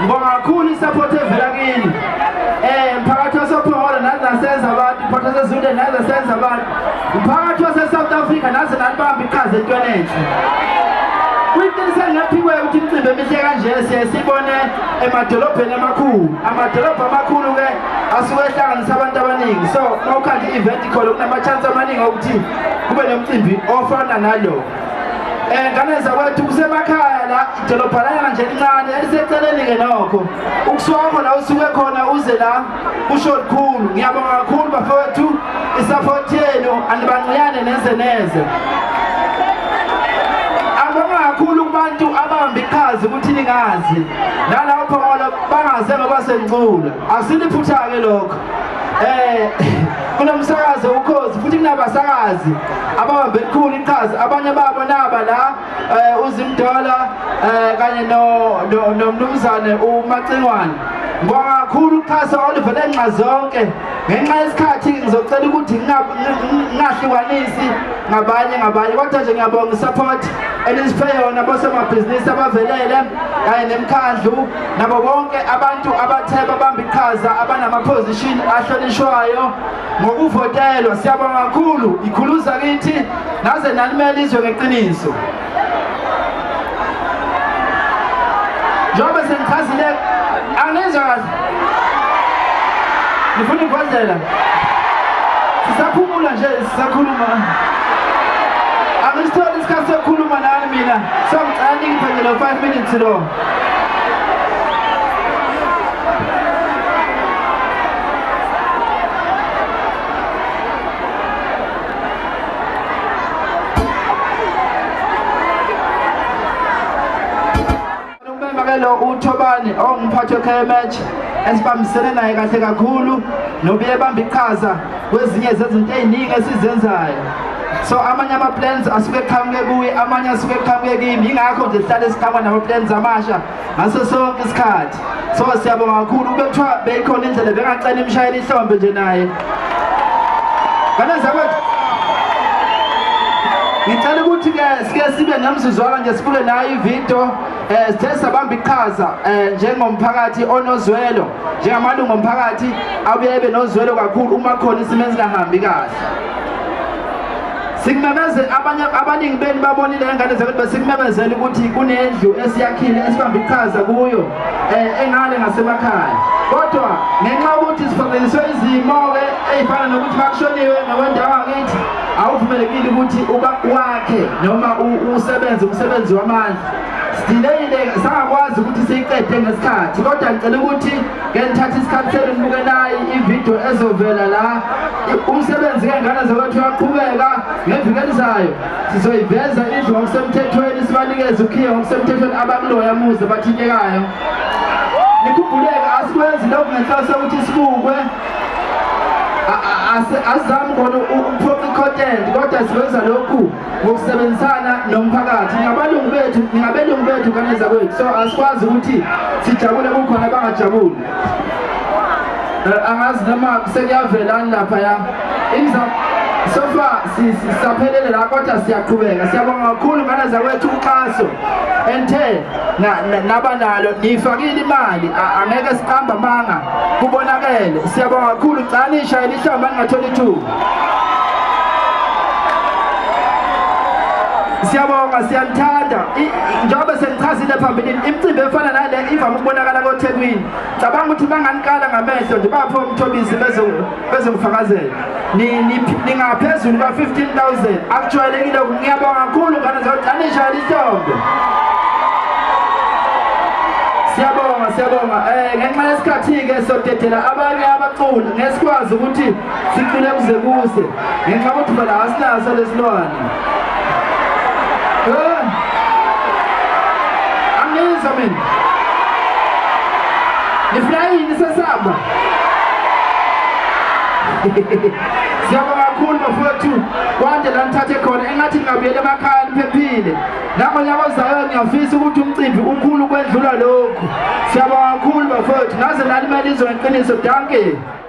Ngibonga kakhulu isupport evela kini. Eh mphakathi wasePhola nathi nasenza abantu, mphakathi waseZulu nathi nasenza abantu. Mphakathi waseSouth Africa nathi nanibamba iqhaza entweni enhle. Kuyiqiniso engaphikwe ukuthi imicimbi emihle kanje siye sibone emadolobheni amakhulu. Amadolobha amakhulu ke asuke ehlanganisa abantu abaningi. So mawukhanda i-event khona kunama-chance amaningi okuthi kube nomcimbi ofana nalo. Ngane zakwethu kusemakhaya la idolobhalanyana nje elincane eliseceleni-ke nokho ukuswakho la usuke khona uze la kusho lukhulu ngiyabonga kakhulu bafowethu isapothi yenu anibanciyane neze neze abonga kakhulu kubantu abambi iqhazi ukuthi ningazi nalapho ngoba bangaze ngoba sengincula Asiliphutha-ke lokho eh kunomsakazi ukhozi futhi kunabasakazi ababambe likhulu iqhaza abanye babo naba la eh, uzimdola eh, kanye nomnumzane umacingwane ngibonga kakhulu uxhaso oluvele nxa zonke ngenxa yesikhathi ngizocela ukuthi ngingahlukanisi ngabanye ngabanye kodwa nje ngiyabonga isupport elisiphe yona bosomabhizinisi abavelele kanye nemkhandlu nabo bonke abantu abathe babamba iqhaza abanamaphozishini ahlonishwayo ngokuvotelwa siyabonga kakhulu ikhuluza kithi naze nalimela izwe ngeqiniso njengoba sengichazile angizwa kahle ngifuna ikhwazela sisaphumula nje sisakhuluma angisitholi isikhathi sokukhuluma nani mina so ngicela ningiphendele 5 minutes lo lo uThobani ongumphathi weKMH esibambisene naye kahle kakhulu nobuye bamba iqhaza kwezinye zezinto ey'ningi esizenzayo so amanye ama-plans asuke eqhamuke kuye amanye asuke eqhamuke kimi yingakho nje sihlale siqhamuka nama-plans amasha ngaso sonke isikhathi so siyabonga kakhulu kube kuthiwa beyikhona indlela bengacela imishayela ihlombe nje naye kanezakwathi ngicela ukuthi-ke sike sibe nemzuzwana nje sibuke nayo ividiyo um eh, sithe sabamba iqhaza um njengomphakathi onozwelo njengamalungu omphakathi abuye ebe nozwelo kakhulu uma khona isimo esingahambi kahle sikumemezele abanye abaningi benu babonile ngengane zakuthi besikumemezele ukuthi kunendlu esiyakhile esibambe iqhaza kuyo um engale ngasemakhaya kodwa ngenxa yokuthi sifanganiswe izimo-ke ey'fana nokuthi bakushoniwe ngokwendawo angithi awuvumelekile ukuthi wakhe noma usebenze umsebenzi wamandla Sideleyile sangakwazi ukuthi siyiqede ngesikhathi kodwa ngicela ukuthi ngenithatha isikhathi senu nibukelayi ividiyo ezovela la umsebenzi kengane zakwethu uyaqhubeka ngeviki elizayo sizoyiveza indlu ngokusemthethweni sibanikeze ukhiye ngokusemthethweni abakuloya muze bathintekayo nikhumbuleke asikwenzi lokhu ngenhloso yokuthi sibukwe asizami khona ukuphoqa icontent kodwa siwenza lokhu ngokusebenzisana nomphakathi ngabalungu bethu ngabelungu bethu kaneza kwethu so asikwazi ukuthi sijabule kukhona abangajabuli eh, angazi noma sekuyavelani laphaya sofa sisaphelele la kodwa siyaqhubeka siyabonga kakhulu nganeza kwethu uxhaso enthe nabanalo niyifakile imali angeke siqamba manga kubonakele siyabonga kakhulu gcani ishayela ihlamba ningatholi ithuba siyabonga siyanithanda njengoba sengichazile phambilini imicimbi efana nale ivame ukubonakala kothekwini cabanga ukuthi banganikala ngamehlo nje bapho umthobisi bezongifakazela ningaphezulu kwa-15 000 akujwayelekile ngiyabonga kakhulu ngane zodanishayela ihlombe siyabonga siyabonga um ngenxa yesikhathi-ke sodedela abanye abaculi ngesikwazi ukuthi sicule kuze kuse ngenxa ukuthi phela asinaso lesilwane angizwa mina nifuna yini sesamba siyabonga kakhulu bafowethu kwande la nithathe khona engathi ngingabuyela emakhaya niphephile nangonyaka ozayo ngiyafisa ukuthi umcimbi ukhulu ukwedlula lokhu siyabonga kakhulu bafowethu naze nalimele izwe ngeqiniso dankie